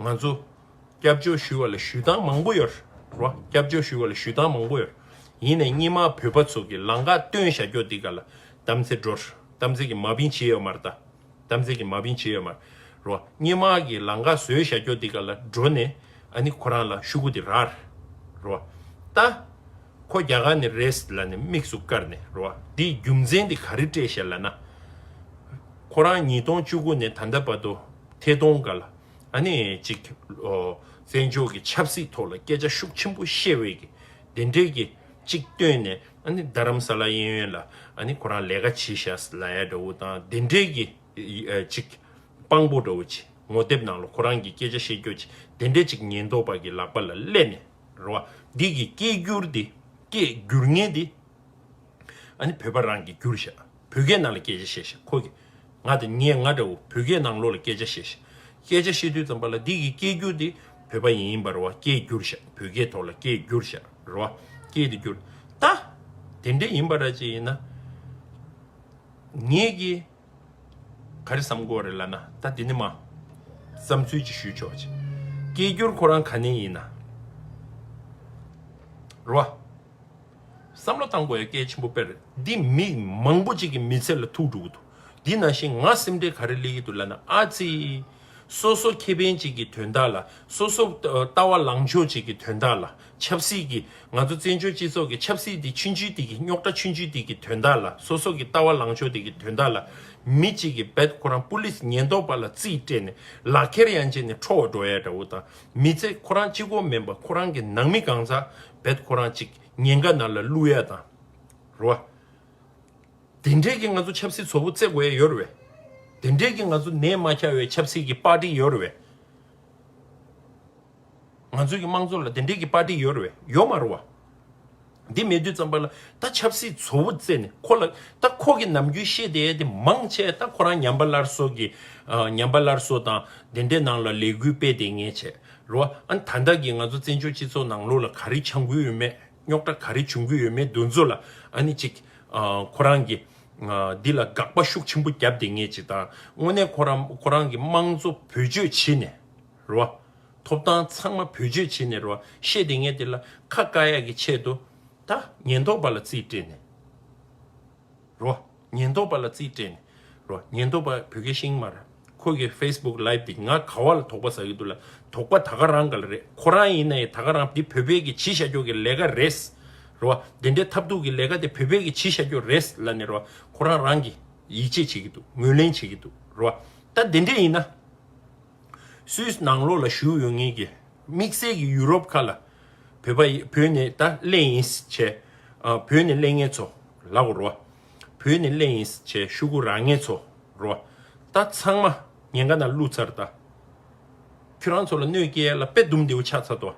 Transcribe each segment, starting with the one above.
ང་ཚོ་སྐྱབས་བཅོལ་ཞུས་བ་ལ་ཞུས་སྟངས་མང་པོ་ཡོད། སྐྱབས་བཅོལ་ཞུས་བ་ལ་ཞུས་སྟངས་མང་པོ་ཡོད། ཡིན་ནས་གཉིས་མར་བོད་པ་ཚོ་གི་ལང་ཀ་སྟོན་བཞག་ཀྱོ་འདི་ག་ལ་དམ་ཚིག་འགྲོ། དམ་ཚིག་གི་མ་བིན་ཇི་ཡོད་མར་ད། དམ་ཚིག་གི་མ་བིན་ཇི་ཡོད་མར། གཉིས་མ་གི་ལང་ཀ་བཟོས་བཞག་ཀྱོ་འདི་ག་ལ་འགྲོ་ནས་ཨ་ནི་ཁོ་རང་ལ་ཤུ་གུ་འདི་རར། ད། ཁོ་རྒྱ་གར་ནས་རེས་ལ་ནས་དམིགས་སུ་བཀར་ནས། འདི་རྒྱུ་མཚན་འདི་ག་རི་སྤྲད་བཞག་ལ་ན། ཁོ་རང་ཉིས་སྟོང་བཅུ་དགུ་ནས་ད་ལྟ་བར་དུ། ཐད་གཏོང་འགའ་ལ་ཨ་ནེ་ཅིག་བཙན་བྱོལ་གྱི་ཆབ་སྲིད་ཐོག་ལ་སྐད་ཆ་ཤུགས་ཆེན་པོ་བཤད་འོས་ཀྱི་དེ་འབྲེལ་གྱི་ཅིག་བཏོན་ནས་ཨ་ནེ་རྡ་རམ་ས་ལ་གཡས་གཡོན་ལ་ཨ་ནེ་ཁོ་རང་ལས་ཀ་བྱེད་ཤ་ཟ་ལ་ཡ་འདྲ་བོ་དང་དེ་འབྲེལ་གྱི་ཅིག་དཔང་པོ་འདྲ་བོ་ཅིག་ངོ་དེབ་ནང་ལ་ཁོ་རང་གི་སྐད་ཆ་བཤད་རྒྱོ་ཅིག་དེ་འདྲས་ཅིག་ཉེན་རྟོག་པ་གྱི་ལག་པ་ལ་གླད་ནས་ར་བ་འདི་གི་སྐད་སྒྱུར་འདི་སྐད་སྒྱུར་ངན་འདི་ཨ་ནེ་བོད་པ་རང་གི་སྒྱུར་ཤག། བོད་སྐད་ནང་ལ་སྐད་ཆ་བཤད་བཤད་ཁོ་གིས། ང་དང་ངས་ང་འདྲ་བོ་བོད་སྐད་ནང་ལོགས་ལ་སྐད་ཆ་བཤད་བཤད། སྐད་ཆ་བཤད་དུས་ཙམ་པ་ལ་འདི་གིས་སྐད་བསྒྱུར་དེ་བོད་པ་ཡིན་ཡིན་པར་བ་སྐད་བསྒྱུར་བཤད་བོད་སྐད་ཐོག་ལ་སྐད་བསྒྱུར་བཤད་རེད་བ་སྐད་དེ་བསྒྱུར། ད། དེ་འདྲ་ཡིན་པ་ར་ཅིག་ཡིན་ན། ངས་ཀྱིས། ག་རེ་བསམ་དགོས་རེད་ལ་ན་ད་དེ་ནི་མ། བསམ་ཚུལ་ཅིག་ཞུས་ཆོག་ཅིག། སྐད་བསྒྱུར་ཁོ་རང་ག་ནས་ཡིན་ན། རེད་བ། བསམ་བློ་བཏང་དགོས་ཡ་སྐད་ཆེན་པོ་དཔེར། འདི་མི་མང་པོ་ཅིག་གི་མི་ཚེ་ལ་ཐུག་འགྲོ་གི་འདུག་འདི་ན་ཞིག་ང་སེམས་ཁྲལ་ག་རེ་གླེ་གི་འདུག་ལ་ན་ཨ་ཙི། སོ་སོ་ཁེ་ཕན་ཅིག་གི་དོན་དག་ལ་སོ་སོ་ལྟ་བ་ལངས་ཕྱོགས་ཅིག་གི་དོན་དག་ལ་ཆབ་སྲིད་ཀྱི་ང་ཚོ་བཙན་བྱོལ་སྤྱི་ཚོགས་ཀྱི་ཆབ་སྲིད་དེ་ཆུན་ཆུན་དེ་གི་རྙོག་དྲ་ཆུན་ཆུན་དེ་གི་དོན་དག་ལ་སོ་སོ་གི་ལྟ་བ་ལངས་ཕྱོགས་དེ་གི་དོན་དག་ལ་མི་ཅིག་གི་བད་ཁོ་རང་པུ་ལིས་ཉེན་རྟོག་པ་ལ་རྩིས་སྤྲད་ནས་ལག་ཁྱེར་ཡང་བཅད་ནས་འཕྲོ་བ་འགྲོ་ཡ་འདྲ་བོ་དང། མི་ཚེ་ཁོ་རང་གཅིག་གོ་མིན་པར་ཁོ་རང་གི་ནང་མི་གང་ཚ་བེད་ཁོ་རང་གཅིག་ཉེན་ཁ་ནང་ལ་བླུག་ཡ་དང། རུ་བ། དེ་འདྲས་ཀྱི་ང་ཚོ་ཆབ་སྲིད་ཚོ་བོ་བརྩེ་དགོས་ཡ་ཡོད་རུ་བས། དེ་འདྲས་ཀྱི་ང་ཚོ་ནད་མ་ཁྱ་བའི་ཆབ་སྲིད་ཀྱི་པར་ཏི་ཡོད་རུ་བས། ང་ཚོའི་ཀྱི་དམངས་གཙོ་ལ་དེ་འདྲས་ཀྱི་པར་ཏི་ཡོད་རུ་བས་ཡོད་མ་རུ་བ། འདི་མེད་དུས་ཙམ་པ་ལ་ད་ཆབ་སྲིད་ཚོ་བོ་རྩེ་ནས་ཁོ་ལ་ད་ཁོ་གི་ནམ་རྒྱུན་ཤེས་དེ་དེ་མང་ཆེ་ད་ཁོ་རང་ཉམས་པ་སླར་གསོ་གི་ཉམས་པ་སླར་གསོ་དང་དེ་འདྲའི་ནང་ལ་ལས་འགུལ་སྤེལ་དེ་ངས་བྱས་རོ་ཨ་ཨན་ད་ད་གི་ང་ཚོ་བཙན་བྱོལ་སྤྱི་ཚོགས་ནང་ལོ་ལ་ག་རེ་འཆང་གི་ཡོད་མེད་རྙོག་དྲ་ག་རེ་བྱུང་གི་ཡོད་མེད་འདུ་འཛོ་ལ་ཨ་ནི་ཅིག་ཁོ་རང་གི་འདི་ལ་དགག་པ་ཤུགས་ཆེན་པོ་བརྒྱབ་དེ་ངས་ཅིག་དང་དངོས་གནས་ཁོ་རང་གི་དམངས་གཙོ་བོད་སྤྱོད་བྱེད་ནས། རོ། ཐོབ་ཐང་ཚང་མ་བེད་སྤྱོད་བྱེད་ནས་རོ། ཤེས་དེ་ངས་དེ་ལ་ཁ་བཀག་ཡག་གི་ཆེད་དུ། ད། ཉེན་རྟོག་པ་ལ་རྩིས་སྤྲད་ནས། རོ། ཉེན་རྟོག་པ་ལ་རྩིས་སྤྲད་ནས། རོ། ཉེན་རྟོག་པ་བོད་སྐད་ཤིང་མ་ར། ཁོ་གི facebook live དེ་ང་ག་བ་ལ་དོག་པ་ཟ་གི་འདུག་ལ་དོག་པ་ད་ག་རང་ག་ལ་རེད་ཁོ་རང་ཡིན་ན་ཡི་ད་ག་རང་དེ་བོད་པའི་གི་བྱི་ཤ་རྒྱོག་གི་ལས་ག་རེད། རོ། དེ་འདྲའི་ཐབས་རྡུག་གི་ལས་ག་དེ་བོད་པའི་གི་བྱི་ཤ་རྒྱོག་རེད་ལ་ནི་རོ། ཁོ་རང་རང་གི། ཡིད་ཆེས་བྱེད་གི་འདུག་ངོས་ལེན་བྱེད་གི་འདུག་རོ། ད་དེ་འདྲས་ཡིན་ན། སུད་ནང་ལོགས་ལ་བཞུགས་ཡོད་ངེས་ཀྱི། དམིགས་བསལ་གྱི་ཡུ་རོབ་ཁག་ལ། བོད་པ་ཡིས་བོད་ནས་ད་གླེང་ཡིན་བྱས། བོད་ནས་གླེང་ངེས་ཚོ་ལ་གོ་རོ། བོད་ནས་གླེང་ཡིན་བྱས་ཤུ་གུ་ར་ངེས་ཚོ་རོ། ད་ཚང་མ་ཉེན་ཁ་ན་བླུགས་ཚར་ད། ཁྱོད་རང་ཚོ་ལ་གནོད་སྐྱལ་ལ་དཔེ་དུམ་འདེའུ་ཆགས་ཚར་ཏོ།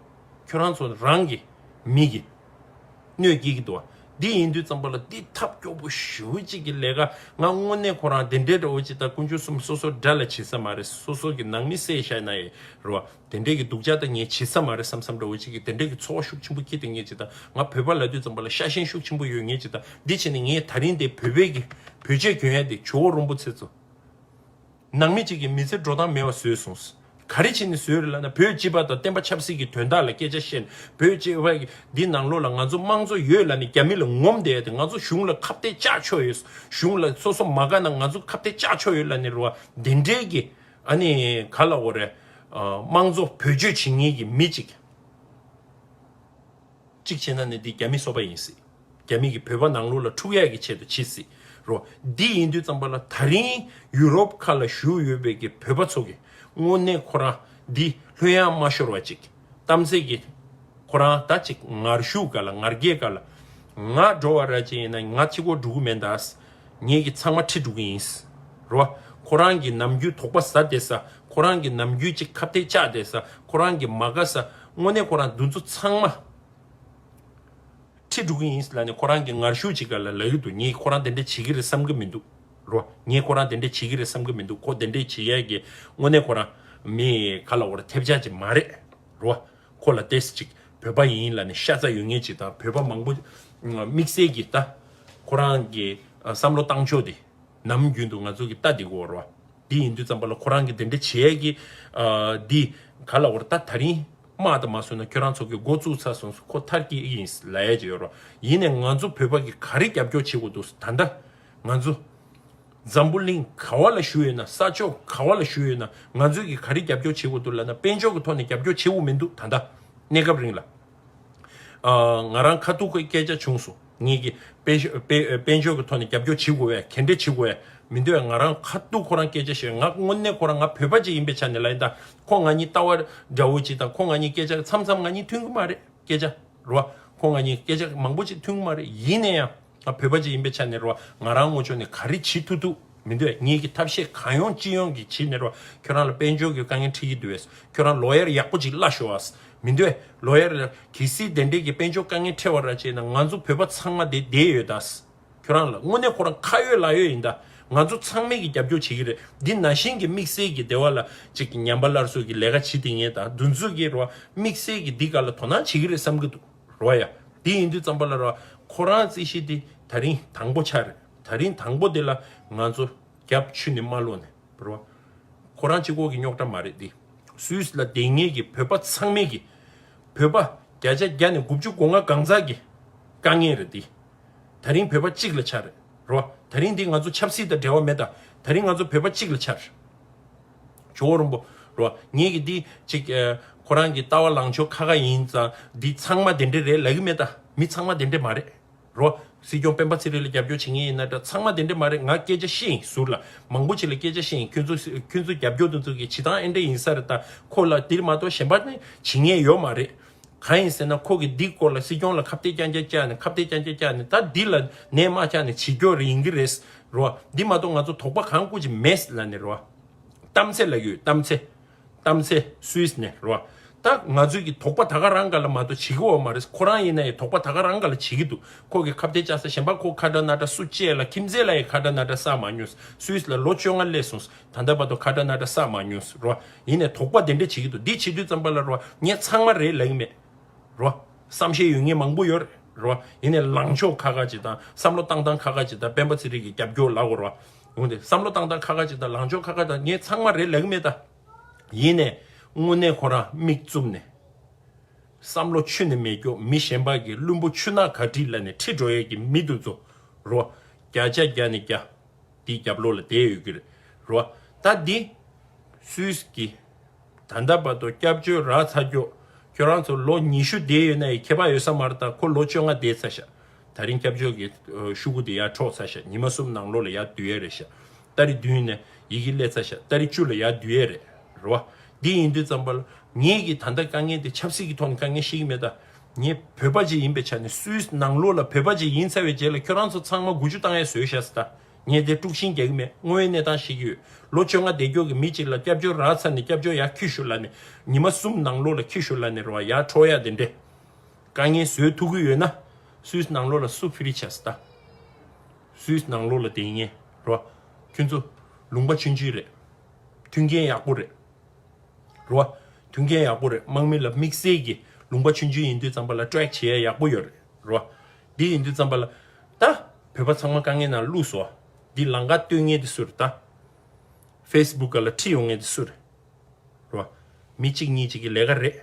ཁྱོད་རང་ཚོ་རང་གི་མི་གི་གནོད་སྐྱེལ་གྱི་འདུག་བ། འདི་ཡིན་དུས་ཙམ་པ་ལ་འདི་ཐབས་སྐྱོ་པོ་ཞུ་གཅིག་གི་ལས་ཀ་ང་དངོས་གནས་ཁོ་རང་དེ་འདྲའི་འདྲ་བོ་ཅིག་ད་ཀུན་སྤྱོད་གསུམ་སོ་སོར་འདྲ་ལ་བྱེད་ས་མ་རེད་སོ་སོ་གི་ནང་མི་སེ་ཤ་ན་ཡི་རུ་བ་དེ་འདྲའི་གི་འདུག་བྱ་ད་ངས་བྱེད་ས་མ་རེད་བསམ་བསམ་འདྲ་བོ་ཅིག་གི་དེ་འདྲའི་གི་འཚོ་བ་ཤུགས་ཆེན་པོ་སྐྱེལ་དུས་ངས་ཅིག་ད་ང་བོད་པ་ལ་དུས་ཙམ་པ་ལ་ཤ་ཞེན་ཤུགས་ཆེན་པོ་ཡོད་ངས་ཅིག་ད་འདི་བྱེད་ནས་ངས་ད་རིང་འདི་བོད་པའི་གི་བོད་ཆས་གྱོན་ཡ་འདི་ཇོ་བོ་རོན་པོ་ཚེ་ཚོ། ནང་མི་གཅིག་གིས་མི་ཚེར་འགྲོ་སྟངས་མེད་པ་བཟོས་སོང། ག་རེ་བྱས་ནས་བཟོས་རེད་ལབ་ན་བོད་སྤྱི་པ་དང་བསྟན་པ་ཆབ་སྲིད་ཀྱི་དོན་དག་ལ་སྐད་ཆ་བཤད་ནས་བོད་སྤྱི་བ། འདི་ནང་ལོགས་ལ་ང་ཚོ་དམངས་གཙོ་ཡོད་ལབ་ནས་རྒྱ་མི་ལ་ངོམ་བསྡད་དེ་ང་ཚོ་གཞུང་ལ་ཁ་བརྡའི་ལྕགས་ཕྱོགས་ཡོད། གཞུང་ལ་སོ་སོ་མ་དགའ་ན་ང་ཚོ་ཁ་བརྡའི་ལྕགས་ཕྱོགས་ཡོད་ལབ་ནས་རེད་བ་དེ་འདྲའི་གི་ཨ་ནི་ག་ལ་འོ་རེད། དམངས་གཙོ་བོད་གཅོད་བྱེད་ངེས་ཀྱི་མི་གཅིག། གཅིག་བྱས་ན་ནི་འདི་རྒྱ་མི་སོག་པ་ཡིན་སྲིད། རྒྱ་མི་གིས་བོད་པ་ནང་ལུགས་ལ་འཁྲུག་ཡག་གི་ཆེད་དུ་བྱེད་སྲིད་རོ། འདི་ཡིན་དུས་ཙམ་པ་ལ་ད་རིང་ཡུ་རོབ་ཁ་ལ་བཞུགས་ཡོད་པའི་གི་བོད་པ་ཚོ་གི་དངོས་གནས་ཁོ་རང་འདི་ལྷོད་ཡང་མ་ཤོར་བ་ཅིག་གཏམ་ཚེ་གི། ཁོ་རང་ད་ཅིག་ངར་བཞུགས་ག་ལ་ངར་རྒྱས་ག་ལ། ང་འགྲོ་བ་ར་ཅན་ཡིན་ན་ང་ཁྱི་གོ་འགྲོ་གི་མེད་ད་ཨ་ཟ། ངེད་གི་ཚང་མ་ཁྲི་འགྲོ་གི་ཡིན་སྲིད་རོ། ཁོ་རང་གི་ནམ་རྒྱུན་དོག་པ་ཟ་དེ་ཟ་ཁོ་རང་གི་ནམ་རྒྱུན་ཅིག་ཁ་བཏད་བཅག་དེ་ཟ་ཁོ་རང་གི་མ་དགའ་ཟ་དངོས་གནས་ཁོ་རང་འདུ་འཛོ་ཚང་མ་ཁྲི་འགྲོ་གི་ཡིན་ལ་ནི་ཁོ་རང་གི་ངར་ཤུགས་ཅིག་ག་ལ་ལ་ཡོད་འདུག་ངས་ཁོ་རང་དེ་འདྲ་བྱེད་ཀྱི་རེད་བསམ་གྱི་མི་འདུག་རོ། ངས་ཁོ་རང་དེ་འདྲ་བྱེད་ཀྱི་རེད་བསམ་གྱི་མི་འདུག་ཁོ་དེ་འདྲ་བྱེད་ཡས་ཀྱི་དངོས་གནས་ཁོ་རང་མི་ག་ལ་བོར་ཐེབས་ཆག་ཅིག་མ་རེད་རོ། ཁོ་ལ་ཏེས་ཅིག་བོད་པ་ཡིན་ལ་ནི་ཤ་ཚ་ཡོད་ངེས་ཅིག་དང་བོད་པ་མང་པོ་དམིགས་བསལ་གྱི་ལྟ། ཁོ་རང་གི་བསམ་བློ་བཏང་ཕྱོགས་དེ་ནམ་རྒྱུན་དུ་ང་ཚོ་གི་ལྟ་འདི་གོ་རོ། དེ་ཡིན་དུས་རྩམ་པ་ལ་ཁོ་རང་གིས་འདི་འདྲ་བྱས་ཡས་ཀྱི། འདི། ག་ལ་བོར་ད་ད་རིང། དམག་དང་མ་སོན་ན་ཁྱོད་རང་ཚོ་གི་མགོ་བཙུགས་ཚར་སོང་ཟུ་ཁོ་ཐར་གྱི་ཡིན་ལ་ཡས་ཀྱི་ཡོད་རོ། ཡིན་ནས་ང་ཚོ་བོད་པ་གི་ག་རེ་རྒྱབ་སྐྱོར་བྱེད་དགོས་འདུག་ཟུ་ད་འདྲ། ང་ཚོ། འཛམ་བུ་གླིང་ག་བ་ལ་བཞུགས་ཡོད་ན་ས་ཕྱོགས་ག་བ་ལ་བཞུགས་ཡོད་ན་ང་ཚོས་གི་ག་རེ་རྒྱབ་སྐྱོར་བྱེད་དགོས་འདུག་ལ་ན་དཔལ་འབྱོར་གི་ཐོག་ནས་རྒྱབ་སྐྱོར་བྱེད་འོ་མི་འདུག་ད་འདྲ། གནས་སྐབས་རིང་ལ། ང་རང་ཁ་ཐུག་སྐད་ཆ་བྱུང་སོང་ངེད་ཀྱི་དཔལ་འབྱོར་གྱི་ཐོག་ནས་རྒྱབ་སྐྱོར་བྱེད་དགོས་བས་གན་འདྲེ་བྱེད་དགོས་བས་མི་འདོད་ང་རང་ཁ་ཐུག་ཁོ་རང་སྐད་ཆ་བཤད་ང་དངོས་གནས་ཁོ་རང་ང་བོད་པ་གཅིག་ཡིན་པའི་ཆ་ནས་ལ་ཡིན་ད་ཁོ་ང་གཉིས་ལྟ་བ་འདྲ་བོ་གཅིག་དང་ཁོ་ང་གཉིས་སྐད་ཆ་མཚམས་མཚམས་ང་གཉིས་མཐུན་གྱི་མ་རེད་སྐད་ཆ་རོ་ཁོ་ང་གཉིས་སྐད་ཆ་མང་པོ་གཅིག་མཐུན་གྱི་མ་རེད་ཡིན་ནས་ཡང། ང་བོད་པ་ཅིག་ཡིན་པའི་ཆ་ནས་རེད་བ་ང་རང་ངོ་ཆོ་ནས་ག་རེ་བྱེད་ཐུབ་ཐུབ་མི་འདུག་ངེད་ཀྱི་ཐབས་ཤེས་གང་ཡོང་ཅི་ཡོང་གི་བྱེད་ནས་རེད་བ་ཁྱོད་རང་ལ་དཔལ་འབྱོར་གྱི་དཀའ་ངལ་འཕྲད་ཀྱི་འདུག་བས་ཁྱོད་རང་ལོ་ཡར་ཡག་པོ་ཅིག་གླ་ཞོ་བས་མི་འདུག་ལོ་ཡར་ལ་གལ་སྲིད་དེ་འདྲས་ཀྱི་དཔལ་འབྱོར་དཀའ་ངལ་འཕྲད་བ་ར་བྱས་ན་ང་ཚོ་བོད་པ་ཚང་མ་དེ་བསྡད་ཡོད་ད་ཁྱོད་རང་ལ་དངོས་གནས་ཁོ་རང་ཁ་ཡོད་ལག་ཡོད་ཡིན་ད་ང་ཚོ་ཚང་མས་ཀྱི་རྒྱབ་སྐྱོར་བྱེད་ཀྱི་རེད་འདི་ན་གཞིན་གྱི་དམིགས་བསལ་གྱི་སྡེ་བ་ལ་ཅིག་གི་ཉམས་པ་སླར་གསོ་གྱི་ལས་ཀ་བྱེད་དེ་ངེད་ད་འདུ་འཛི་གི་རེད་བ་དམིགས་བསལ་གྱི་འདི་ག་ལ་དོ་སྣང་བྱེད་ཀྱི་རེད་བསམ་གྱི་འདུག། རོ་ཡ། དེ་ཡིན་དུས་བརྩམས་པ་ལ་རོ། ཁོ་རང་རྩིས་ཤེས་དེ་ད་རིང་དང་པོ་ཆགས་རེད་ད་རིང་དང་པོ་དེ་ལ་ང་ཚོ་རྒྱབ་ཆུ་ནས་མ་ལོ་ནས་རོ། ཁོ་རང་སྤྱི་ཁོག་གི་རྙོག་དྲ་མ་རེད་དེ། སུས་ལ་དེ་ངེད་ཀྱི་བོད་པ་ཚང་མེད་ཀྱི། བོད་པ་བརྒྱ་ཆ་བརྒྱ་ནས་དགུ་བཅུ་གོ་ལྔ་གང་ཟག་གི་དཀའ་ངལ་རེད་དེ། ད་རིང་བོད་པ་གཅིག་ལ་ཆགས་རེད་རོ། ད་རིང་དེ་ང་ཚོ་ཆབ་སྲིད་དང་འབྲེལ་བ་མེད་ད་ད་རིང་ང་ཚོ་བོད་པ་གཅིག་ལ་ཆགས་རེད། ཇོ་བོ་རིན་པོ་རོ། ངེད་ཀྱིས་འདི་ཅིག། ཁོ་རང་གི་ལྟ་བ་ལངས་ཕྱོགས་ཁ་ཁ་ཡིན་ཙང་འདི་ཚང་མ་དེ་འདྲས་རེད་ལབ་ཀྱི་མེད་ད། མི་ཚང་མ་དེ་འདྲས་མ་རེད། རོ། སྲིད་སྐྱོང་སྤེན་པ་ཚེ་རིང་ལ་རྒྱབ་སྐྱོར་བྱེད་ངེས་ཡིན་ན་འདྲ་ཚང་མ་དེ་འདྲས་མ་རེད་ང་སྐད་ཆ་བཤད་ཡིན་ཟུར་ལ་མང་པོ་བྱེད་ལ་སྐད་ཆ་བཤད་ཡིན་ཁྱོད་ཚོ་རྒྱབ་སྐྱོར་དུ་འཛུགས་ཀྱི་བྱེད་སྟངས་ཨེ་འདྲས་ཡིན་ས་རེད་ད་ཁོ་ལ་དེར་མ་གཏོགས་གཞན་པ་ནི་བྱེད་ངེས་ཡོད་མ་རེད། གང་ཡིན་ཟེར་ན་ཁོ་གིས་འདིའི་སྐོར་ལ་སྲིད་སྐྱོང་ལ་ཁ་བརྡའི་བསྐྱངས་ཆ་བཅག་ནས་ཁ་བརྡའི་བསྐྱངས་ཆ་བཅག་ནས་ད་འདི་ལ་ནས་དམག་ཆགས་ནས་བྱེད་སྐྱོ་རེ་ཡིན་གྱི་རེད་རོ། འདི་མ་གཏོགས་ང་ཚོ་དོགས་པ་གང་བཀུར་ཅི་མེད་ལ་ནས་རོ། གཏམ་ཚེ་ལ་ཡོད་གཏམ་ཚེ། གཏམ་ཚེ་སུས་ནས་རོ། ད་ང་ཚོས་ཀྱི་དོགས་པ་ད་ག་རང་ག་ལ་མ་གཏོགས་བྱེད་ཀྱི་འོག་མ་རེད་ཁོ་རང་ཡིན་ན་ཡི་དོགས་པ་ད་ག་རང་ག་ལ་བྱེད་ཀྱི་འདུག་ཁོ་གིས་ཁ་བརྡའི་བཅག་ས་གཞན་པ་ཁོ་ཁ་དྲ་སྣ་དྲ་སུ་བཅས་ལ་ཁྱིམ་མཚེས་ལ་ཡི་ཁ་དྲ་སྣ་དྲ་བསགས་མ་མྱོང་སུས་ལ་ལོ་བཅོ་ལྔ་སླེབས་སོང། ད་ལྟ་བར་དུ་ཁ་བྲ་སྣ་བྲ་བསགས་མ་མྱོང་ཟེར་རོ། ཡིན་ནས་དོགས་པ་དེ་འདྲ་བྱེད་ཀྱི་འདུག་འདི་བྱེད་དུས་ཙམ་པ་ལ་རོ། ངས་ཚང་མ་རེད་ལབ་ཡི་མེད་རོ། བསམ་ཤེས་ཡོད་ངེས་མང་པོ་ཡོད་རོ། ཡིན་ནས་ལངས་ཕྱོགས་ཁ་ཁ་ཅིག་དང་བསམ་བློ་བཏང་བཏང་ཁ་ཁ་ཅིག་དང་སྤེན་པ་ཚེ་རིང་གི་རྒྱབ་སྐྱོར་ལབ་རོ། འོན་ཏེ་བསམ་བློ་བཏང་བཏང་ཁ་ཁ་ཅིག་དང་ལངས་ཕྱོགས་ཁ་ཁ་དང་ངས་ཚང་མ་རེད་ལབ་ཡི་མེད་ད། ཡིན་ནས་དངོས་གནས་ཁོ་རང་མིག་བཙུམ་ནས། བསམ་བློ་ཆུ་ནས་མེད་སྐྱོ་མི་གཞན་པ་གིས་བླུན་པོ་ཆུ་ནག་ག་དྲིས་ལ་ནས་ཁྲིད་འགྲོ་ཡས་ཀྱི་མི་འདུག་ཛོ་རོ། བརྒྱ་ཆ་བརྒྱ་ནས་བརྒྱ། དེའི་རྒྱབ་ལོགས་ལ་དེའི་ཡོད་ཀྱི་རེད་རོ། ད་འདི། སུས་ཀྱི། ད་ལྟ་བར་དུ་སྐྱབས་བཅོལ་རག་ཚར་རྒྱུ། ཁྱོད་རང་ཚོ་ལོ་ཉི་ཤུ་བསྡད་ཡོད་ན་ཡི་ཁྱད་པ་ཡོད་ས་མ་རེད་ད་ཁོ་ལོ་བཅོ་ལྔ་བསྡད་ཚར་ཤག་ད་རིང་སྐྱབས་བཅོལ་གྱི་ཤུ་གུ་དེ་ཡར་འཕྲོག་ཚར་ཤག་ཉི་མ་གསུམ་ནང་ལོ་ལ་ཡར་བསྡུ་ཡས་རེད་ཤག་ད་རི་བདུན་ནས་ཡི་གེ་སླེ་ཚར་ཤག་ད་རི་བཅུ་ལ་ཡར་བསྡུ་ཡས་རེད་རོ། འདི་ཡིན་དུས་ཙམ་པར་ལ་ངེད་ཀྱིས་ད་ལྟ་དཀའ་ངལ་དེ་ཆབ་སྲིད་ཀྱི་ཐོག་ནས་དཀའ་ངལ་ཤེས་ཀྱི་མེད་ད། ངས་བོད་པ་ཅིག་ཡིན་པའི་ཆ་ནས་སུའི་ནང་ལོགས་ལ་བོད་པ་ཅིག་ཡིན་ཚར་བའི་རྗེས་ལ་ཁྱོད་རང་ཚོ་ཚང་མ་དགུ་བཅུ་བཏང་ཡས་ཟོས་ཤག་སྟ། ངས་དེ་དཀྲུགས་ཤིང་རྒྱག་གི་མེད་དངོས་ཡོད་གནས་སྟངས་ཤིག་ཡོད་ལོ་བཅོ་ལྔ་འདས་མགྱོགས་ཀྱི་མི་ཅིག་ལ་སྐྱབས་བཅོལ་རག་ཚར་ནས་སྐྱབས་བཅོལ་ཡག་ཁྱུ་ཞུ་ལ་ནས་ཉི་མ་གསུམ་ནང་ལོགས་ལ་ཁྱུ་ཞུ་ལ་ནས་རོ་བ་ཡག་འཕྲོག་ཡག་དེ་འདྲས་དཀའ་ངལ་བཟོས་ཐུག་གི་ཡོད་ན་སུའི་ནང་ལོགས་ལ་སུ་ཕི་རི་ཆག་སྟ། སུའི་ནང་ལོགས་ལ་དེ་ངས་རོ་བ་ཁྱོད་ཚོ་ལུང་པ་ཆུན་ཆུན་རེད་མཐུན་རྐྱེན་ཡག་པོ་རེད། རེད། དོན་གནད་ཡག་པོ་རེད་དམག་མི་ལ་དམིགས་བསལ་གྱི་ལུང་པ་མཆོད་མཆོད་ཡིན་དུས་ཙམ་པ་ལ་སྤྲོད་བྱས་ཡག་པོ་ཡོད་རེད། དེ་ཡིན་དུས་ཙམ་པ་ལ། ད་བོད་པ་ཚང་མ་དཀའ་ངལ་ནང་བླུགས་སོ། འདི་ལང་ཀ་སྟོད་ངན་དེ་སུ་རེད་ད། Facebook ལ་ཁྲིད་ཡོང་ངན་དེ་སུ་རེད། མི་གཅིག་གཉིས་གཅིག་གི་ལས་ཀ་རེད།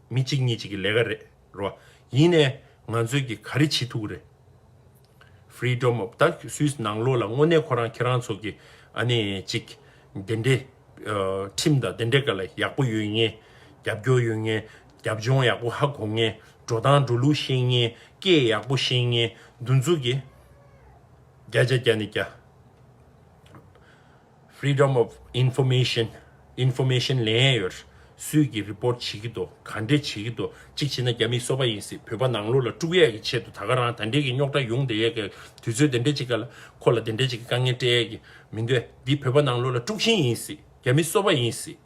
མི་གཅིག་གཉིས་གཅིག་གི་ལས་ཀ་རེད། ཡིན་ནས་ང་ཚོས་ཀྱི་ག་རེ་བྱེད་ཐུག་གི་རེད། Freedom of the Swiss ནང་ལོགས་ལ་དངོས་གནས་ཁོ་རང་ཁྱེད་རང་ཚོ་གི་ཨ་ནེ་ཅིག་འདི་འདྲའི་ཁྲིམས་དང་འདི་འདྲའི་ག་ལ་ཡག་པོ་ཡོད་ངེས་རྒྱབ་སྐྱོར་ཡོད་ངེས་རྒྱབ་ལྗོངས་ཡག་པོ་ཧ་གོ་ངེས་འགྲོ་སྟངས་འགྲོ་ལུགས་ཤེས་ངེས་སྐད་ཡག་པོ་ཤེས་ངེས་འདུ་འཛུགས་ཀྱི་བརྒྱ་ཆ་བརྒྱ་ནས་བརྒྱ། Freedom of Information Information ལེན་ཡས་ཡོད། སུས་ཀྱིས Report བྱེད་ཀྱི་འདུག་ག་འདྲས་བྱེད་ཀྱི་འདུག་གཅིག་བྱེད་ན་རྒྱ་མིས་གསོ་བ་ཡིན་སྲིད་བོད་པ་ནང་ལོག་ལ་དཀྲུག་ཡས་ཀྱི་ཆེད་དུ་ད་ག་རང་ད་འདྲས་ཀྱི་རྙོག་དྲ་ཡོང་བསྡད་ཡས་ཀྱི་དུས་ཚོད་དེ་འདྲས་ཅིག་ག་ལ་ཁོ་ལ་དེ་འདྲས་ཅིག་གི་དཀའ་ངལ་སྤྲད་ཡས་ཀྱི་མི་འདུག་འདི་བོད་པ་ནང་ལོག་ལ་དཀྲུག་ཤིང་ཡིན་སྲིད་རྒྱ་མིས་གསོ་བ་ཡིན་སྲིད།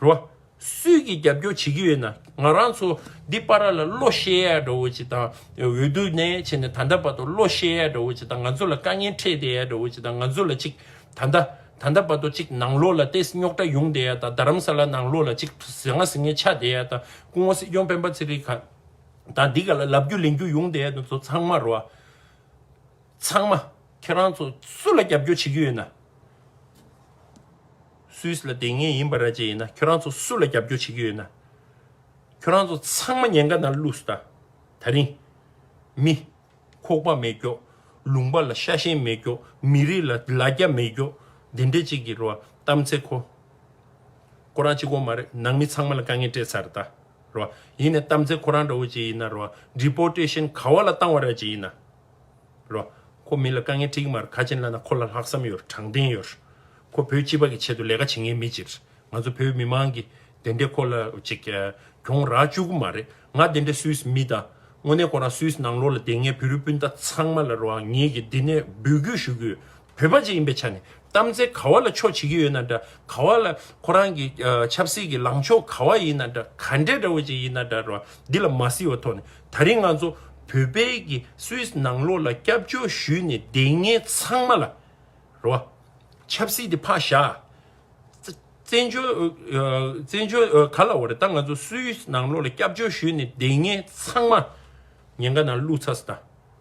རོ། སུས་ཀྱིས་རྒྱབ་སྐྱོར་བྱེད་ཀྱི་ཡོད་ན་ང་རང་ཚོ་འདི་པ་ར་ལ་བློ་ཤེས་ཡ་འདྲ་བོ་ཅིག་དང་འོས་བསྡུ་ནས་བྱས་ནས་ད་ལྟ་བར་དུ་བློ་ཤེས་ཡ་འདྲ་བོ་ཅིག་དང་ང་ཚོ་ལ་དཀའ་ངལ་འཕྲད་བསྡད་ཡ་འདྲ་བོ་ཅིག་དང་ང་ཚོ་ལ་ཅིག་ད་ལྟ་ད་ལྟ་བར་དུ་ཅིག་ནང་ལོགས་ལ་ལྟས་རྙོག་དྲ་ཡོང་བསྡད་ཡ་དང་རྡ་རམ་ས་ལ་ནང་ལོགས་ལ་ཅིག་ཟི་ང་ཟི་ངེ་ཆགས་བསྡད་ཡ་དང་སྐུ་ངོ་སྲིད་སྐྱོང་སྤེན་པ་ཚེ་རིང་ག་དང་འདི་ག་ལ་ལབ་རྒྱུ་ལེན་རྒྱུ་ཡོང་བསྡད་ཡ་དང་ཚོ་ཚང་མ་རོ། ཚང་མ་ཁྱེད་རང་ཚོ་སུ་ལ་རྒྱབ་སྐྱོར་བྱེད་ཀྱི་ཡོད་ན། སུད་སི་ལ་དེ་ངའི་ཡིན་པ་ར་ཅན་ཡིན་ན་ཁྱོད་རང་ཚོ་སུ་ལ་རྒྱབ་སྐྱོར་བྱེད་ཀྱི་ཡོད་ན། ཁྱོད་རང་ཚོ་ཚང་མ་ཉེན་ཁ་ནང་བླུགས་སུ་དང། ད་རིང། མི། ཁོག་པ་མེད་སྐྱོག། ལུང་པ་ལ་ཤ་ཞེན་མེད་སྐྱོག་མི་རིགས་ལ་ལ་རྒྱ་མེད་སྐྱོག་འདི་འདྲས་ཅིག་གི་རོ་གཏམ་ཚེ་ཁོ། ཁོ་རང་གཅིག་གོ་མ་རེད་ནང་མི་ཚང་མ་ལ་དཀའ་ངལ་སྤྲད་ཚར་རེད་ད། རོ། ཡིན་ནས་གཏམ་ཚེ་ཁོ་རང་འདྲ་བོ་ཅིག་ཡིན་ན་རོ། Deportation ག་བ་ལ་བཏང་བ་ར་ཅན་ཡིན་ན། རོ། ཁོ་མི་ལ་དཀའ་ངལ་དྲིས་ཀྱི་མ་རེད་ཁ་ཆེན་བླ་ན་ཁོ་ལ་ལྷག་བསམ་ཡོད་དྲང་བདེན་ཡོད། ཁོ་བོད་སྤྱི་པ་གི་ཆེད་དུ་ལས་ཀ་བྱེད་ངེས་མེད་ཅིག་རེད་ང་ཚོ་བོད་མི་མང་གི་དེ་འདྲས་ཁོ་ལ་ཅིག་གྱོང་རག་བཅུག་གི་མ་རེད་ང་དེ་འདྲས་སུའི་མི་དང་དངོས་གནས་ཁོ་རང་སུའི་ནང་ལོག་ལ་དེ་ངས་བོད་རུས་སྤུན་ཟླ་ཚང་མ་ལ་རོ་ངེད་ཀྱི་འདི་ནས་འབུལ་རྒྱུ་ཞུ་གི་ཡོད། བོད་པ་ཅིག་ཡིན་པའི་ཆ་ནས་གཏམ་ཚེ་ག་བ་ལ་ཕྱོགས་བྱེད་ཀྱི་ཡོད་ན་འདྲ་ག་བ་ལ་ཁོ་རང་གི་ཆབ་སྲིད་ཀྱི་ལངས་ཕྱོགས་ག་བ་ཡིན་ན་འདྲ་ག་འདྲའི་འདྲ་བོ་ཅིག་ཡིན་ན་འདྲ་བ་འདི་ལ་མ་གཟིགས་བ་ཐོག་ནས་ད་རིང་ང་ཚོ་བོད་པའི་གི་སུད་ནང་ལོགས་ལ་སྐྱབས་བཅོལ་ཞུས་ནས་བསྡད་ངན་ཚང་མ་ལ་ར་བ་ཆབ་སྲིད་དེ་ཕག་ཞག་བཙན་བྱོལ་བཙན་བྱོལ་ག་ལ་བ་རེད་ད་ང་ཚོ་སུད་ནང་ལོགས་ལ་སྐྱབས་བཅོལ་ཞུས་ནས་བསྡད་ངན་ཚང་མ་ཉེན་ཁ་ནང་བླུགས་ཚ་ས་ད།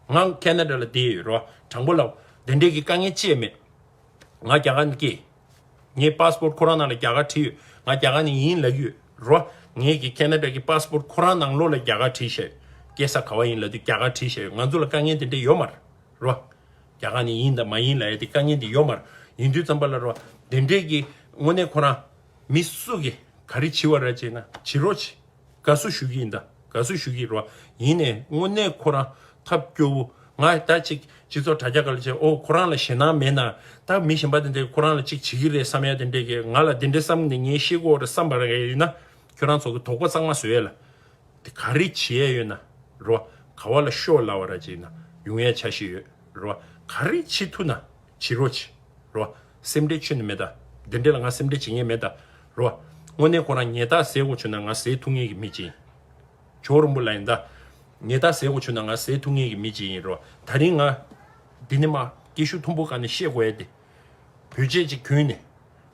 ང་ཁེ་ན་དྲ་ལ་བསྡད་ཡོད་རོ་དྲང་པོ་ལབ། དེ་འདྲས་ཀྱི་དཀའ་ངལ་ཅེས་མེད། ང་རྒྱ་གར་ནས་སྐྱེས། ངའི Passport ཁོ་རང་ནང་ལ་རྒྱ་གར་བྲིས་ཡོད། ང་རྒྱ་གར་ནས་ཡིན་ལབ་ཡོད་རོ། ངས་ཀྱི་ཁེ་ན་དྲ་གྱི Passport ཁོ་རང་ནང་ལོགས་ལ་རྒྱ་གར་བྲིས་བཞག་ཡོད། སྐྱེས་ས་ག་བ་ཡིན་ལབ་དུས་རྒྱ་གར་བྲིས་བཞག་ཡོད་ང་ཚོ་ལ་དཀའ་ངལ་དེ་འདྲས་ཡོད་མ་རེད་རོ། རྒྱ་གར་ནས་ཡིན་དང་མ་ཡིན་ལ་ཡ་དེ་དཀའ་ངལ་འདི་ཡོད་མ་རེད། ཡིན་དུས་ཙམ་པ་ལ་རོ། དེ་འདྲས་ཀྱི་དངོས་གནས་ཁོ་རང། མི་སུ་གི་ག་རེ་བྱིས་བ་ར་བྱེད་ན་བྱིས་རོགས་བྱེད། དགའ་བསུ་ཞུ་གི་ཡིན་ད་དགའ་བསུ་ཞུ་གི་རོགས་ཡིན་ནས་དངོས་གནས་ཁོ་རང་ཐབས་སྐྱོ་བོ་ང་ད་ཅིག་སྤྱི་ཚོགས་དྲ་རྒྱ་ག་ལ་བྱས་ཨོ་ཁོ་རང་ལ་ཞེད་སྣང་མེད་ན་ད་མི་གཞན་པ་དེ་འདྲས་ཁོ་རང་ལ་ཅིག་བྱེད་གི་རེད་བསམ་ཡ་དེ་འདྲས་ཀྱི་ང་ལ་དེ་འདྲས་བསམ་ནས་ངའི་ཤེས་ཁོག་རེ་བསམ་པ་རེ་ཡོད་ན་ཁྱོད་རང་ཚོ་གི་དོགས་པ་གཙང་མ་བཟོ་ཡ་ལ་དེ་ག་རེ་བྱེད་ཡ་ཡོད་ན་རོགས་ག་བ་ལ་ཤོག་ལ་བ་ར་བྱེད་ན་ཡོང་ཡ་ཆ་ཤེས་ཡོད་རོགས་ག་རེ་བྱེད་ཐུ་ན། བྱི་རོ། བྱི་རོ། སེམས་ཁྲལ་ཆོད་ནི་མེད། དེ་འདྲས་ལ་ང་སེམས་ཁྲལ་བྱེད་ངེས་མེད། རོ། དངོས་གནས་ཁོ་རང་ངེད་དག་ཟས་གོ་ཆོད་ན་ང་ཟས་འཐུང་ངེས་ཀྱི་མི་ཅི་ཡིན། བྱི་བོ་རིང་པོ་ལ་ཡིན། ངེད་དག་ཟས་གོ་ཆོད་ན་ང་ཟས་འཐུང་ངེས་ཀྱི་མི་ཅི་ཡིན། རོ། ད་རིང་ང། འདི་ནི་མ། སྐད་ཤུགས་མཐོན་པོ་ག་ནས་ཤེས་གོ་ཡ་དེ། བོད་ཆས་ཅིག་གྱོན་ནས།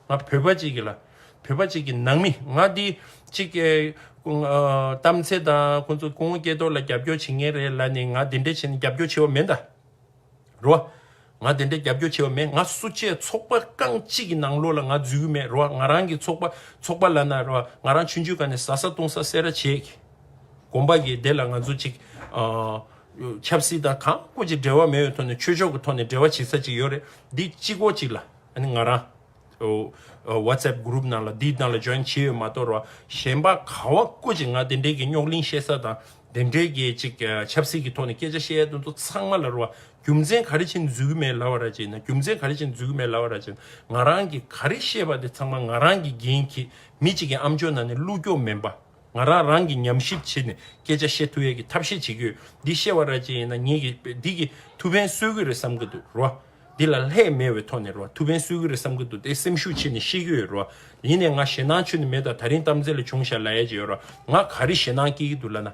ང་བོད་པ་ཅིག་གི་ལ། བོད་པ་ཅིག་གི་ནང་མི་ང་འདི། ཅིག། གཏམ་ཚེ་དང་ཁོང་ཚོ་སྐུ་ངོ་སྐྱེས་ཐོག་ལ་རྒྱབ་སྐྱོར་བྱེད་ངེས་རེད་ལ་ནི་ང་འདི་འདྲས་བྱེད་ན་རྒྱབ་སྐྱོར་བྱེད་བ་མེད། རོ། ང་དེ་འདྲའི་རྒྱབ་སྐྱོར་བྱེད་པ་མེད་ང་སུ་བཅས་ཚོགས་པ་རྐང་གཅིག་གི་ནང་ལོགས་ལ་ང་འཛུལ་གི་མེད་རོ་ང་རང་གི་ཚོགས་པ་ཚོགས་པ་ལ་ན་རོ་ང་རང་ཆུན་ཆུན་ག་ནས་ཟ་ས་བཏུང་ས་བསད་ར་བྱེད་གི་གོམ་པ་གི་དེ་ལ་ང་ཚོ་ཅིག་ཆབ་སྲིད་དང་གང་དཀོན་ཅིག་འབྲེལ་བ་མེད་བའི་ཐོག་ནས་ཆོས་ཕྱོགས་གི་ཐོག་ནས་འབྲེལ་བ་བྱེད་ས་ཅིག་ཡོད་རེད་འདི་གཅིག་གོ་གཅིག་ལ་ང་རང། Whatsapp Group ནང་ལ་འདི་དང་ལ Join བྱས་ཡོད་མ་གཏོགས་རོ་གཞན་པ་ག་བ་ཀུ་ཅིག་ང་དེ་འདྲའི་གི་རྙོག་གླིང་བཤད་ས་དང་དེ་འདྲའི་གི་ཅིག་ཆབ་སྲིད་གི་ཐོག་ནས་སྐད་ཆ་བཤད་ཡ་དེ་ཚོ་ཚང་མ་ལ་རོ་རྒྱུ་མཚན་ག་རེ་བྱིན་འཛུལ་གི་མེད་ལ་བ་ར་བྱིན་ན་རྒྱུ་མཚན་ག་རེ་བྱིན་འཛུལ་གི་མེད་ལ་བ་ར་བྱིན་ང་རང་གི་ག་རེ་བཤད་པ་དེ་ཚང་མ་ང་རང་གི་འགན་གི་མི་ཅིག་གི་ཨམ་ཅོ་ནང་ནས་བླུག་རྒྱོག་མིན་པ་ང་རང་རང་གི་ཉམས་ཞིབ་བྱེད་ནས་སྐད་ཆ་བཤད་ཐུབ་ཡ་གི་ཐབས་ཤེས་བྱེད་གི་ཡོད་འདི་བཤད་བ་ར་བྱིན་ཡིན་ན་ངེད་གི་འདི་གི་ཐུ་བེན་གསོད་གི་རེད་བསམ་གི་འདུག་རོ། འདི་ལ་ལྷད་མེད་བའི་ཐོག་ནས་རོ་ཐུ་བན་གསོད་གི་རེད་བསམ་གི་འདུག་དེ་སེམས་ཤུགས་ཆེ་ནས་ཤེས་ཀྱི་ཡོད་རོ། ཡིན་ནས་ང་ཞེད་སྣང་ཆུ་ནས་མེད་ད་ད་རིང་གཏམ་རྩེ་ལ་བྱུང་ཞར་ལ་ཡལ་གྱི་ཡོད་རོ། ང་ག་རེ་ཞེད་སྣང་སྐྱེ་གི་འདུག་ལ་ན།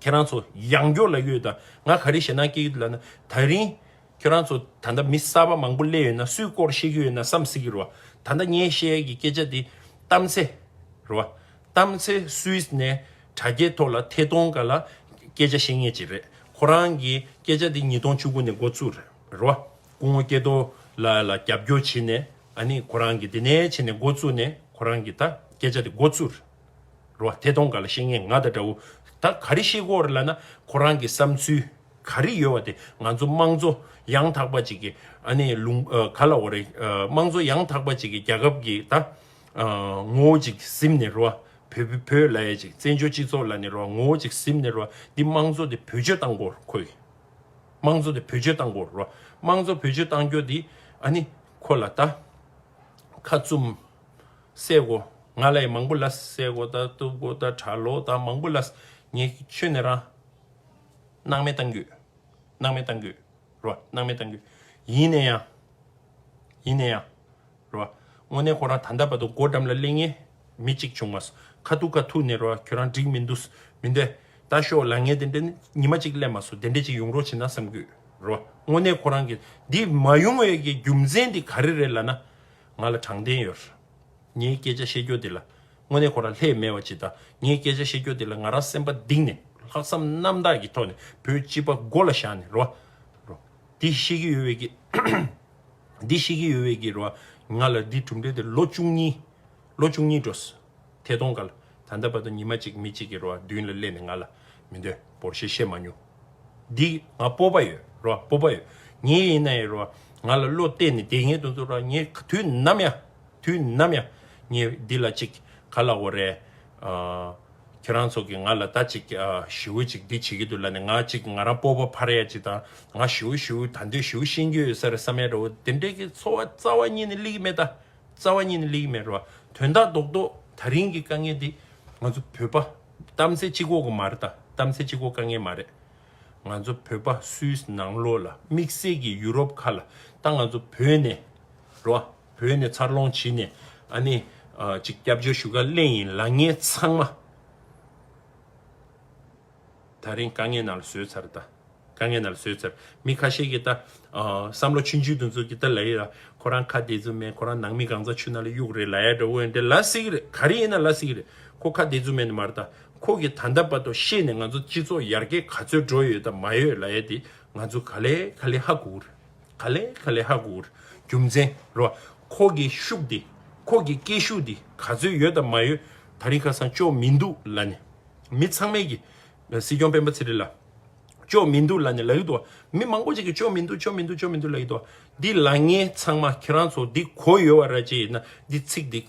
ཁྱེད་རང་ཚོ་ཡང་སྐྱོ་ལ་ཡོད་ད་ང་ག་རེ་ཞེད་སྣང་སྐྱེ་གི་འདུག་ལ་ན། ད་རིང། ཁྱེད་རང་ཚོ་ད་ལྟ་མི་གསར་པ་མང་པོ་གླས་ཡོད་ན་སུའི་སྐོར་ཤེས་ཀྱི་ཡོད་ན་བསམ་གཟིགས་ཀྱི་རོ། ད་ལྟ་ངས་བཤད་ཡས་ཀྱི་སྐད་ཆ་དེ་གཏམ་རྩེ་རོ། གཏམ་ཚེ་སུས་ནས་དྲ་རྒྱའི་ཐོག་ལ་ཐད་གཏོང་ག་ལ་སྐད་ཆ་བཤད་ངེས་ཅི་རེད་ཁོ་རང་གི་སྐད་ཆ་དེ་ཉིས་སྟོང་བཅུ་དགུ་ནས་འགོ་བཙུགས་རེད་བ་སྐུ་ངོ་སྐྱེ་རྡོ་ལ་ལ་རྒྱབ་སྐྱོར་བྱེད་ནས་ཨ་ནི་ཁོ་རང་གི་དེ་ནས་བྱེད་ནས་འགོ་བཙུགས་ནས་ཁོ་རང་གི་ད་སྐད་ཆ་དེ་འགོ་བཙུགས་རེད་བ་ཐད་གཏོང་ག་ལ་བཤད་ངེས་ང་ད་དྲ་བོ་ད་ག་རེ་བཤད་དགོས་རེད་ལ་ན་ཁོ་རང་གི་བསམ་ཚུལ་ག་རེ་ཡོད་བ་དེ་ང་ཚོ་དམངས་གཙོ་ཡང་དག་པ་ཅིག་གི་ཨ་ནི་ལུང་ག་ལ་འོ་རེད་དམངས་གཙོ་ཡང་དག་པ་ཅིག་གི་རྒྱལ་ཁབ་ཀྱི་ད། ངོ་བོ་ཅིག་སིམ་ནི་རུ་བ། བོད་ལ་ཡ་ཅིག་བཙན་བྱོལ་སྤྱི་ཚོགས་ལ་ནི་རུ་བ་ངོ་བོ་ཅིག་སིམ་ནི་རུ་བ་འདི་དམངས་གཙོ་དེ་བོད་སྤྱོད་བཏང་གོ་ཁོ་གི། དམངས་གཙོ་དེ་བོད་སྤྱོད་བཏང་གོ་རུ་བ། དམངས་གཙོ་བོད་སྤྱོད་བཏང་སྐྱོ་དེ་ཨ་ནི་ཁོ་ལ་ད། ཁ་བཙུམས། བསད་གོ། ང་ལ་ཡི་མང་པོ་ལ་བསད་གོ་ད་གཏུབ་གོ་ད་གྲ་ལོ་ད་མང་པོ་ལ། ངས་ཁྱོད་ནི་རང། སྣང་མེད་བཏང་གོ། སྣང་མེད་བཏང་གོ་རུ་བ་སྣང་མེད་བཏང་གོ། ཡིན་ནས་ཡང། ཡིན་ནས་ཡང། རེད་བ། དངོས་གནས་ཁོ་རང་ད་ལྟ་བར་དུ་སྒོ་འགྲམ་ལ་གླེང་ངེས་མི་གཅིག་བྱུང་མ་སོང། ཁ་ཐུག་ཁ་ཐུག་ནས་རེད་བ་ཁྱོད་རང་འགྲིག་མི་འདུག་མི་འདི་ལྟ་ཞོག་ལ་ངས་དེ་འདྲ་ཉི་མ་གཅིག་གླེང་མ་སོང་དེ་འདྲ་གཅིག་ཡོང་རོགས་བྱེད་ན་བསམ་གི་ཡོད་རེད་བ། དངོས་གནས་ཁོ་རང་གི་འདི་མ་ཡོང་བའི་གི་རྒྱུ་མཚན་དེ་ག་རེ་རེད་ལ་ན། ང་ལ་དྲང་བདེན་ཡོད། ངའི་སྐད་ཆ་བཤད་རྒྱུ་དེ་ལ་དངོས་གནས་ཁོ་རང་ལྷད་མེད་བ་ཇི་ལྟར་ངས་སྐད་ཆ་བཤད་རྒྱུ་དེ་ལ་ང་རང་སེམས་པ་གདིང་ནས་ལྷག་བསམ་རྣམ་དག་གི་ཐོག་ནས་བོད་སྤྱི་པ་མགོ་ལ་བཞག་ནས་རེད་བ། འདི་བཤད་གི་ཡོད་བའི་གི། འདི་ཤེས་ཀྱི་ཡོད་བས་ཀྱི་རོ། ང་ལ་འདི་གྲུབ་འབྲས་དེ་ལོ་བཅུ་གཉིས། ལོ་བཅུ་གཉིས་འགྲོ། ཐད་གཏོང་ག་ལ། ད་ལྟ་བར་དུ་ཉི་མ་གཅིག་མི་གཅིག་གི་རོ་བདུན་ལ་སླེབས་ནས་ང་ལ། མི་འདོད་པོར་ཞེས་བཤད་མ་མྱོང། འདི་ང་སྤོབས་པ་ཡོད་རོ་སྤོབས་པ་ཡོད། ངའི་ཡིན་ན་ཡི་རོ། ང་ལ་བློ་གཏད་ནས་བསྡད་ངེས་དུ་འདུག་རོ་ངས་དུས་ནམ་ཡང། དུས་ནམ་ཡང་ངས་འདི་ལ་ཅིག་ག་ལ་འོ་རེད། ཁྱོད་རང་ཚོ་གིས་ང་ལ་ད་ཅིག་ཞེའུ་ཅིག་འདི་བྱེད་ཀྱི་འདུག་ལ་ནི་ང་ཅིག་ང་རང་སྤོ་བོ་ཕ་རེད་ཅིག་དང་ང་ཞེའུ་ཞེའུ་ད་འདོད་ཞེའུ་ཤེས་རྒྱུ་ཡོད་ས་རེད་བསམ་ཡ་རེད་འོ་དེ་འདྲའི་གི་འཚོ་བ་རྩ་བ་ཉིད་ནི་ལེགས་ཀྱི་མེད་ད་རྩ་བ་ཉིད་ནི་ལེགས་ཀྱི་མེད་རེད་བ་དོན་དག་རྡོག་རྡོག་ད་རིང་གི་དཀའ་ངལ་འདི་ང་ཚོ་བོད་པ་གཏམ་ཚེ་གཅིག་འོག་གི་མ་རེད་ད་གཏམ་ཚེ་གཅིག་འོག་དཀའ་ངལ་མ་རེད། ང་ཚོ་བོད་པ་སུའི་ནང་ལོགས་ལ་དམིགས་བསལ་གྱི་ཡུ་རོབ་ཁ་ལ་ད་ང་ཚོ་བོད་ནས་རེད་བ། བོད་ནས་འཚར་ལོངས་བྱས་ནས་ཨ་ནེ། ཅིག་སྐྱབས་བཅོལ་ཞུ་ག་གླེང་ཡིན་ལགས་ངས་ཚང་མ། ད་རིང་དཀའ་ངལ་ནང་ལ་བཟོས་ཚར་ད། དཀའ་ངལ་ནང་ལ་བཟོས་ཚར་མི་ཁ་ཤས་ཀྱིས་ད། བསམ་བློ་ཆུང་ཆུང་དུ་འཛུགས་ཀྱི་ད་ལ་ཡིན་ལ་ཁོ་རང་ཁ་བདེ་རྫུན་མེད་ཁོ་རང་ནང་མི་གང་ཚ་ཆུ་ནང་ལ་གཡུག་རེད་ལ་ཡ་འདྲ་འོན་ཏེ་ལ་སྲིད་ཀྱི་རེད་ག་རེ་ཡིན་ན་ལ་སྲིད་ཀྱི་རེད་ཁོ་ཁ་བདེ་རྫུན་མེད་ནི་མ་རེད་ད་ཁོ་གིས་ད་ལྟ་བར་དུ་ཤེས་ནས་ང་ཚོ་སྤྱི་ཚོགས་ཡར་རྒྱས་ག་ཚོད་འགྲོ་ཡོད་ད་མ་ཡོད་ལ་ཡ་དེ་ང་ཚོ་ག་ལེ་ག་ལེ་ཧ་གོ་རེད། ག་ལེ་ག་ལེ་ཧ་གུ་ཨུར་རྒྱུ་མཚན་རོ། ཁོ་གི་ཤུགས་དེ་ཁོ་གི་སྐད་ཤུགས་དེ་ག་ཚོད་ཡོད་དམ་མ་ཡོད་ད་རིང་ཁ་སང་ཅོག་མི་འདུག་ལ་ནི་མི་ཚང་མས་ཀྱི། སྲིད་སྐྱོང་སྤེན་པ་ཚེ་རིང་ལ། ཅོག་མི་འདུག་ལ་ནི་ལ་ཡི་འདུག་མི་མང་པོ་ཅིག་གི་ཅོག་མི་འདུག་ཅོག་མི་འདུག་ཅོག་མི་འདུག་ལ་ཡི་འདུག་འདི་ལ་ངས་ཚང་མ་ཁྱེད་རང་ཚོ་འདི་གོ་ཡོད་བ་ར་ཅི་ཡིན་ན་འདི་ཚིག་འདི།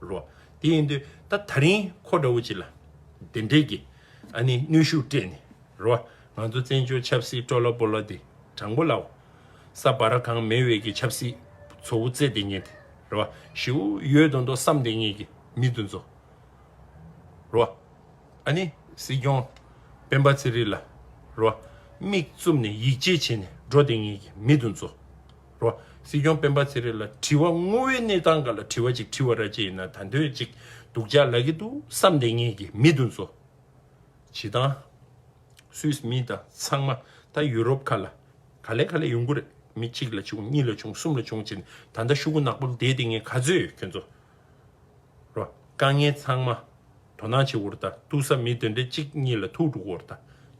རོ། དེ་ཡིན་དུས་ད་ད་རིང་ཁོ་འདྲ་བོ་ཅིག་ལ་དེ་འདྲས་ཀྱི་ཨ་ནི་ནུས་ཤུགས་སྤྲད་ནས་རོ། ང་ཚོ་བཙན་བྱོལ་ཆབ་སྲིད་སྤྲོ་ལ་པོ་ལ་དེ་དྲང་པོ་ལའོ། ས་བ་ར་གང་མེད་འོས་ཀྱི་ཆབ་སྲིད་ཚོ་བོ་བཙལ་དེ་ཉེས་དེ་རོ། ཞེའུ་ཡོད་དོ་མདོ་བསམ་དེ་ངེས་ཀྱི་མི་དུ་འཛོ། རོ། ཨ་ནི་སྲིད་སྐྱོང་སྤེན་པ་ཚེ་རིང་ལ་རོ། མིག་བཙུམ་ནས་ཡིད་ཆེས་བྱེད་ནས་འགྲོ་དེ་ངེས་ཀྱི་མི་དུ་འཛོ། རོ། སྲིད་སྐྱོང་སྤེན་པ་ཚེ་རིང་ལ་དྲི་བ་དངོས་བོའི་གནས་སྟངས་འགའ་ལ་དྲི་བ་ཅིག་དྲི་བ་ར་ཅི་ཡིན་ན་ད་འདོད་ཅིག་སྡུག་ཅག་ལ་གི་འདུག་བསམ་བསྡད་ངེས་ཀྱི་མི་འདུག་མཚོ་བྱི་དང། Swiss མི་དང་ཚང་མ་ད་ཡུ་རོབ་ཁ་ལ་ག་ལེ་ག་ལེ་ཡོང་གི་རེད་མི་གཅིག་ལ་བྱུང་གཉིས་ལ་བྱུང་གསུམ་ལ་བྱུང་བྱས་ནས་ད་ད་ཤུ་གུ་ནག་པོ་འདས་ཏེ་ངས་ག་ཚོད་ཡོད་ཁྱོད་ཚོ་རོ། དཀའ་ངལ་ཚང་མ། དོ་སྣང་བྱེད་འོར་ད་ཐུག་ས་མི་དོན་འབྲས་གཅིག་གཉིས་ལ་ཐུག་འགྲོ་འོར་ད་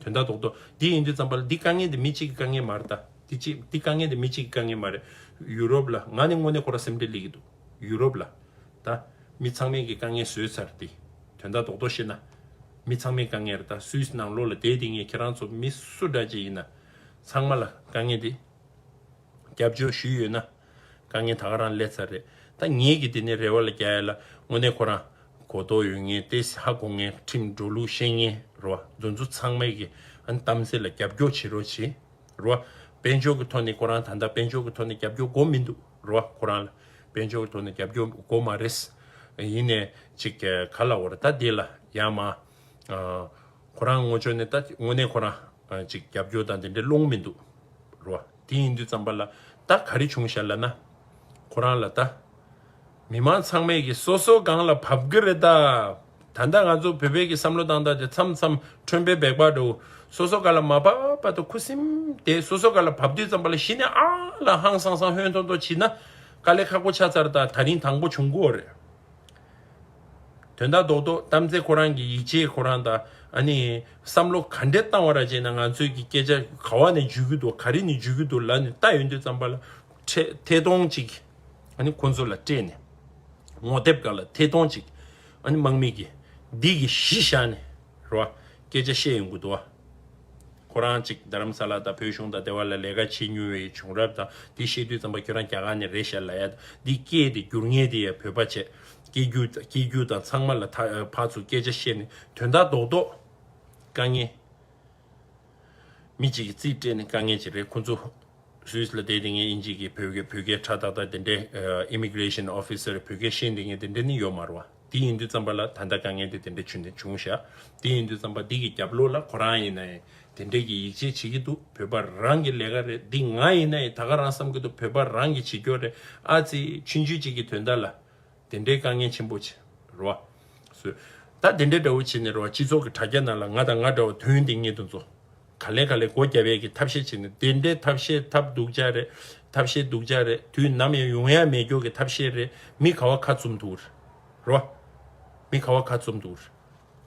དོན་ད་དོག་དོག་འདི་ཡིན་དུས་ཙམ་པ་ལ་འདི་དཀའ་ངལ་འདི་མི་གཅིག་གི་དཀའ་ངལ་མ་རེད་ད་འདི་གཅིག་འདི་དཀའ་ངལ་འདི་མི་གཅིག་གི་དཀའ་ངལ་མ་རེད་ཡུ་རོབ་ལ་ང་ནི་དངོས་གནས་ཁོ་རང་སེམས་ཁྲལ་སླེ་གི་འདུག་ཡུ་རོབ་ལ་ད་མི་ཚང་མས་གི་དཀའ་ངལ་བཟོས་ཚར་འདི་དོན་ད་དོག་དོག་བཤད་ན་མི་ཚང་མས་དཀའ་ངལ་རེད་ད་སུའི་སྣང་བློ་ལ་དེ་དེ་ངས་ཁྱེད་རང་ཚོ་མི་སུ་འདྲ་ཅིག་ཡིན་ན་ཚང་མ་ལ་དཀའ་ངལ་འདི། རྒྱབ་སྐྱོར་ཞུས་ཡོད་ན། དཀའ་ངལ་ད་ག་རང་སླེབས་ཚར་རེད་ད་ངེད་ཀྱི་དེ་ནས་རེ་བ་ལ་རྒྱ་ཡ་ལ་དངོས་གནས་ཁོ་རང་གོ་རྟོགས་ཡོད་ངེས་ཏེ་ཧ་གོ་ངེས་ཁྲིམས་འགྲོ་ལུགས་ཤེས་ངེས་རེད་བ་འཛོ་འཛོ་ཚང་མས་ཀྱི་ཨ་ནི་གཏམ་ཟེར་ལ་རྒྱབ་སྐྱོར་བྱེད་རོགས་བྱེད་རེད་བ་དཔལ་འབྱོར་གྱི་ཐོག་ནས་ཁོ་རང་ད་ལྟ་དཔལ་འབྱོར་གྱི་ཐོག་ནས་རྒྱབ་སྐྱོར་སྒོ་མི་འདུག་རེད་བ་ཁོ་རང་ལ་དཔལ་འབྱོར་གྱི་ཐོག་ནས་རྒྱབ་སྐྱོར་སྒོ་མ་རེད་ཡིན་ནས་ཅིག་ག་ལ་བོར་ད་དེ་ལ་ཡ་མ་ཁོ་རང་ངོ་ཅོག་ནས་ད་དངོས་གནས་ཁོ་རང། ཅིག་རྒྱབ་སྐྱོར་དང་དེ་འདྲའི་བློ་ངོ་མི་འདུག་རོ། དེ་ཡིན་དུས་ཙམ་པ་ལ་ད་ག་རེ་བྱུང་ཞལ་ལ་ན། ཁོ་རང་ལ་ད། མི་མང་ཚང་མས་ཀྱི་སོ་སོ་སྒང་ལ་བབ་གི་རེད་ད། ད་ལྟ་ང་ཚོ་བོད་པས་ཀྱི་བསམ་བློ་དང་ད་དེ་མཚམས་མཚམས་ཁྲོན་པའི་བེག་པ་འདྲ་བོ་སོ་སོ་ག་ལ་མ་བབ་པ་ད་ཁུ་སིམ་དེ་སོ་སོ་ག་ལ་བབ་དུས་ཙམ་པ་ལ་གཞི་ནས་ཨ་ལ་ཧང་སང་སང་ཧོན་ཐོ་ཐོ་བྱིས་ན་དཀའ་ལས་ཁག་པོ་ཆགས་ཚར་ད་ད་རིང་དང་པོ་བྱུང་གོ་རེད། དོན་དག་རྡོག་རྡོག་གཏམ་ཚེ་ཁོ་རང་གི་ཡིད་ཆེས་ཁོ་རང་དང་ཨ་ནི་བསམ་བློ་ག་འདྲས་བཏང་བ་ར་བྱས་ན་ང་ཚོས་ཀྱི་སྐད་ཆ་ག་བ་ནས་འཇུས་ཀྱི་འདུག་ག་རི་ནས་འཇུས་ཀྱི་འདུག་ལ་ནི་ལྟ་ཡོད་འདོད་ཙམ་པ་ལ་ཐེ་ཐོང་ཅིག་ཨ་ནི་ཁོ་ཚོ་ལ་སྤྲད་ནས་ངོ་དེབ་ག་ལ་ཐེ་ཐོང་ཅིག་ཨ་ནི་དམག་མི་གི་འདི་གི་གཞི་བཞག་ནས། རོ། སྐད་ཆ་བཤད་ཡོང་གི་འདུག་བ། ཁོ་རང་ཅིག་རྡ་རམ་ས་ལ་དང་བོད་གཞུང་དང་སྡེ་བ་ལ་ལས་ཀ་བྱེད་མྱོང་བའི་བྱུང་རབས་དང་དེ་བཤད་དུས་ཙམ་པ་ཁྱོད་རང་རྒྱ་གར་ནས་རེད་ཤ་ལ་ཡ། འདི་སྐད་དེ་སྒྱུར་ངེས་དེ་ཡ་བོད་པ་བྱས། སྐད་སྒྱུར་དང་སྐྱིད་སྒྱུར་དང་ཚང་མ་ལ་ཐ་ཕ་ཚོ་སྐད་ཆ་བཤད་ནས་དོན་དག་རྡོག་རྡོག། དཀའ་ངལ། མི་གཅིག་གི་རྩིས་སྤྲད་ནས་དཀའ་ངལ་ཅིག་རེད་ཁོ་ཚོ། Swiss ལ་བསྡད་དེ་ངས་ཨིན་ཇིག་གི་བོད་སྐད་བོད་སྐད་ཁྲ་ཐག་ཐག་དེ་འདྲའི Immigration Officer བོད་སྐད་ཤེས་འདི་ངས་དེ་འདྲའི་ནི་ཡོད་མ་རུང་བ། དེ་ཡིན་དུས་བརྩམས་པ་ལ་ད་ལྟ་དཀའ་ངལ་དེ་དེ་འདྲ་བྱུང་ནས་བྱུང་ཤག་དེ་ཡིན་དུས་བརྩམས་པ་འདི་གི་རྒྱབ་ལོག་ལ་ཁོ་རང་ཡིན་ན་ཡང་དེ་འདྲས་ཀྱི་ཡིད་ཆེས་བྱེད་ཀྱི་འདུག་བོད་པ་རང་གི་ལས་ཀ་རེད་འདི་ང་ཡིན་ན་ཡང་ད་ག་རང་བསམ་གྱི་འདུག་བོད་པ་རང་གི་བྱེད་སྐྱོ་རེད་ཨ་ཙི་ཆུན་ཆུན་གཅིག་གི་དོན་དག་ལ་དེ་འདྲའི་དཀའ་ངལ་ཆེན་པོ་བྱེད་རོ་བ་སོད་ད་དེ་འདྲས་འདྲ་བོ་བྱེད་ནས་རོ་བ་སྤྱི་ཚོགས་ཀྱི་དྲ་རྒྱ་ནང་ལ་ང་དང་ང་འདྲ་བ་དོན་དེ་ངེད་དུ་འཛོ། ག་ལེ་ག་ལེ་སྒོ་རྒྱ་བལ་གྱི་ཐབས་ཤེས་བྱེད་ནི་དེ་འདྲའི་ཐབས་ཤེས་ཐབས་སྡུག་ཅག་རེད། ཐབས་ཤེས་སྡུག་ཅག་རེད་དུས་ནམ་ཡང་ཡུང་ཡ་མེད་སྐྱོ་གི་ཐབས་ཤེས་རེད་མི་ག་བ་ཁ་བཙུམ་འདུག་རོ། མི་ག་བ་ཁ་བཙུམ་འདུག་རོ།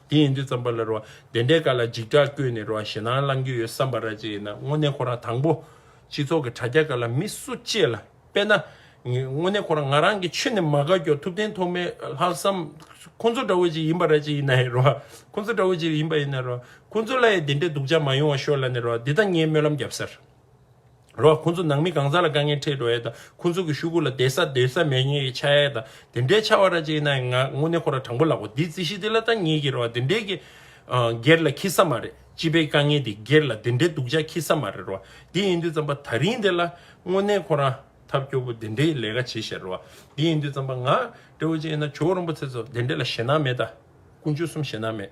དེ་ཡིན་དུས་བརྩམས་པ་ལ་རོ། དེ་འདྲའི་སྐར་ལ་འཇིགས་སྐྲག་བསྐྱོད་ནས་རོ་ཞེ་སྣང་བསླང་རྒྱུ་ཡོད་བསམ་པ་ར་ཅིག་ཡིན་ན་དངོས་གནས་ཁོ་རང་དང་པོ། སྤྱི་ཚོགས་ཀྱི་དྲ་རྒྱ་སྐར་ལ་མི་སུ་གཅེས་ལ། དཔེར་ན། དངོས་གནས་ཁོ་རང་ང་རང་གི་ཆོས་ནས་མ་དགའ་ཀྱང་ཐུབ་བསྟན་ཐོག་མའི་ལྷག་བསམ། ཁོ་ཚོ་འདྲ་བོ་ཅིག་ཡིན་པ་རེད་ཅེས་ཡིན་ནའི་རེད། ཁོ་ཚོ་འདྲ་བོ་ཅིག་ཡིན་པ་ཡིན་ནའི་རེད། ཁོ་ཚོ་ལ་ཡང་དེ་འདྲའི་སྡུག་ཅག་མ་ཡོང་བ་ཤོག་ལ་ནའི་རེད། འདི་དང་ངའི་སྨོན་ལམ་རྒྱབ་སར། རེད། ཁོ་ཚོ་ནང་མི་གང་ཟག་ལ་དཀའ་ངལ་འཕྲད་འགྲོ་ཡས་དང་ཁོ་ཚོ་གི་ཤུགས་ཁུར་ལ་དད་ས་འདོད་ས་མེད་ངེས་ཀྱི་ཆ་ཡས་དང་དེ་འདྲའི་ཆ་བ་རེད་ཅེས་ཡིན་ནའི་ང་དངོས་གནས་ཁོ་རང་དྲང་པོ་ལགས་གོ་འདིའི་རྩིས་གཞི་འདི་ལ་དང་ངེས་ཀྱི་རེད་དེ་འདྲའི་གི་སྒེར་ལ་ཁྱི་ས་མ་རེད། སྤྱི་པའི་དཀའ་ངལ་དེ་སྒེར་ལ་དེ་འདྲའི་སྡུག་ཅག་ཁྱི་ས་མ་རེད་རོ། དེ་ཡིན་དུས་རྩམ་པ་ཐག་རིང་དེ་ལ་དངོས་གནས་ཁོ་རང་ཐབས་སྐྱོ་པོ་དེ་འདྲའི་ལས་ཀ་བྱེད་ཤེས་རོ། དེ་ཡིན་དུས་རྩམ་པ་ང། སྤྲེའུ་ཅན་ཡིན་ན་ཇོ་བོ་རིན་པོ་ཚེ་ཚོ་དེ་འདྲའི་ལ་ཞེད་སྣང་མེད་ད། དཀོན་མཆོག་གསུམ་ཞེད་སྣང་མེད།